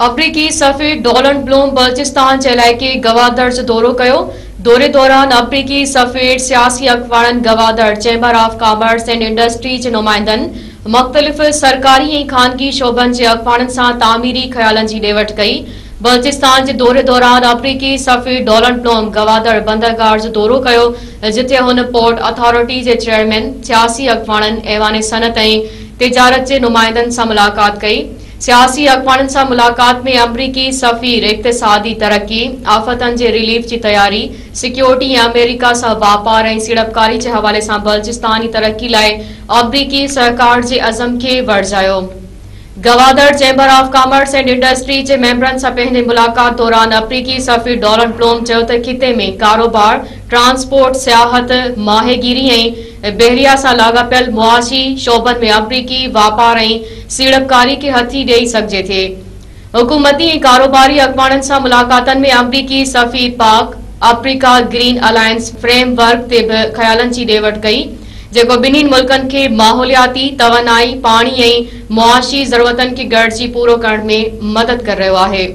آمريڪي سفير Donald Blome Balochistan جي علائقي گوادر جو دورو ڪيو، دوري دوران آمريڪي سفير، سياسي اڳواڻن، Gwadar chamber of commerce and industry جي نمائندن، مختلف سرڪاري ۽ خانگي شعبن جي اڳواڻن سان تعميري خيالن جي ڏي وٺ ڪئي. بلوچستان جي دوري دوران آمريڪي سفير ڊونلڊ بلوم گوادر بندرگاهه جو دورو ڪيو، جتي هن پورٽ اٿارٽي جي چيئرمين، سياسي اڳواڻن، ايوان صنعت ۽ تجارت جي نمائندن سان ملاقات ڪئي. سياسي اڳواڻن سان ملاقات ۾ آمريڪي سفير اقتصادي ترقي، آفتن جي ريليف جي تياري، سيڪيورٽي ۽ آمريڪا سان واپار ۽ سيڙپڪاري جي حوالي سان بلوچستان جي ترقي لاء آمريڪي سهڪار جي عزم کي ورجايو. Gwadar chamber of commerce and industry جي ميمبرن سان پنهنجي ملاقات دوران آمريڪي سفير ڊولن بلوم چيو ته خطي ۾ ڪاروبار، ٽرانسپورٽ، سياحت، ماهي گيري ۽ بحريه سان لاڳاپيل معاشي شعبن ۾ آفريڪي واپار ۽ سيڙپڪاري کي هٿي ڏئي سگهجي ٿي. حڪومتي ۽ ڪاروباري اڳواڻن سان ملاقاتن ۾ آمريڪي سفير Pak Africa green alliance framework تي به خيالن جي ڏي وٺ ڪئي، جيڪو ٻنهين ملڪن کي ماحولياتي، توانائي، پاڻي ۽ معاشي ضرورتن کي گڏجي پورو ڪرڻ ۾ مدد ڪري رهيو آهي.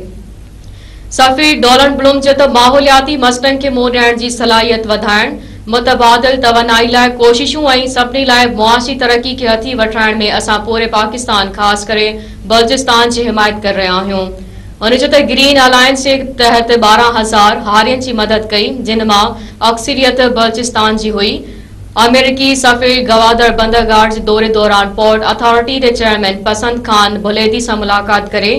صحفي ڊولن بلوم چئي ته ماحولياتي مسئلن کي منهن ڏيڻ جي صلاحيت وڌائڻ، متبادل توانائي لاء ڪوششون ۽ سڀني لاء معاشي ترقي کي هٿي وٺرائڻ ۾ اسان پوري پاڪستان خاص ڪري بلوچستان جي حمايت ڪري رهيا آهيون. هن چيو ته گرين الائنس جي تحت ٻارهن هزار هارين جي مدد ڪئي جن مان اڪثريت بلوچستان جي هئي، آمريڪي سفير گوادر بندرگاهه جي دوري دوران پورٽ اٿارٽي جي چيئرمين پسند خان ڀليدي سان ملاقات ڪري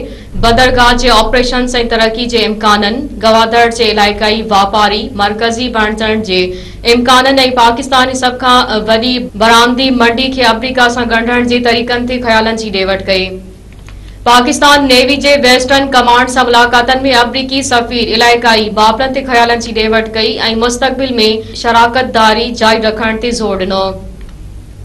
بندرگاهه جي آپريشنز ۽ ترقي جي امڪانن، گوادر جي علائقائي واپاري مرڪزي بڻجڻ جي امڪانن ۽ پاڪستان جي سڀ کان وڏي برآمدي منڊي کي آمريڪا سان ڳنڍڻ جي طريقن تي خيالن جي ڏي وٺ ڪئي. پاڪستان نيوي جي ويسٽرن ڪمانڊ سان ملاقاتن ۾ آمريڪي سفير علائقائي معاملن تي خيالن جي ڏي وٺ ڪئي ۽ مستقبل ۾ شراڪتداري جاري رکڻ تي زور ڏنو.